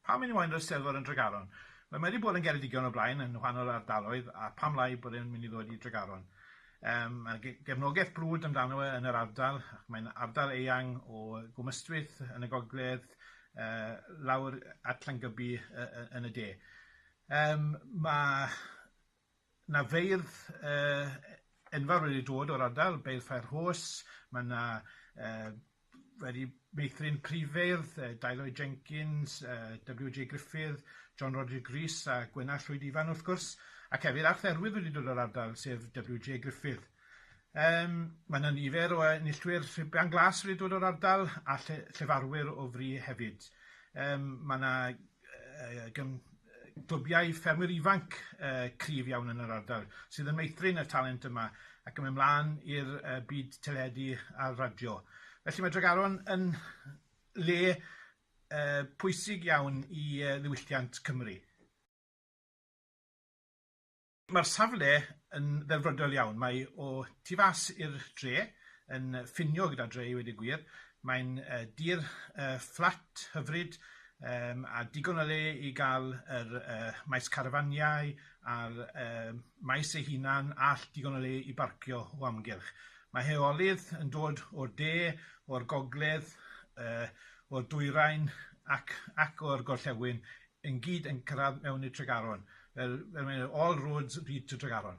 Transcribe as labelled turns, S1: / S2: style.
S1: Pam yw moyn yr Eisteddfod yn Dregaron? Wel, mae 'di bod yn Geredigion o blaen yn wahanol ardaloedd, a pam lai bod e'n mynd i ddod i Dregaron? Yym, mae ge- gefnogaeth brwd amdano fe yn yr ardal, ac mae'n ardal eang o Gwm Ystwyth yn y gogledd, yy lawr at Llangybi y- y- yn y de. Yym, ma'... 'na feirdd yy enfawr wedi dod o'r ardal, Beirdd Fair Horse, ma' 'na yy wedi meithrin Prifeirdd, yy Deilo Jenkins, yy Double-you Jay Gruffydd, John Roger Grees a Gwenallt Llwyd Ifan wrth gwrs, ac hefyd Arth Erwydd wedi dod o'r ardal, sef Double-you Jay Gruffydd. Yym, mae 'na nifer o enillwyr Llwyfan Glas wedi dod o'r ardal a lle- llefarwyr o fri hefyd. Yym ma' 'na yy gym- yy glwbiau ffermwyr ifanc yy cryf iawn yn yr ardal sydd yn meithrin y talent yma ac yn mynd mlan i'r yy byd teledu a'r radio. Felly mae Dregaron yn le yy pwysig iawn i yy ddiwylliant Cymru. Mae'r safle yn ddelfrydol iawn. Mae o tu fas i'r dre, yn ffinio gyda dre i wedi gwir. Mae'n uh, dir uh, fflat hyfryd um, a digon o le i gael yr uh, maes carafaniau a'r uh, maes ei hunan all digon o le i barcio o amgylch. Mae heolydd yn dod o'r de, o'r gogledd, uh, o'r dwyrain ac, ac o'r gorllewin yn gyd yn cyrraedd mewn i Tregaron. Fel, fel mae'n dweud, all roads lead to Tregaron.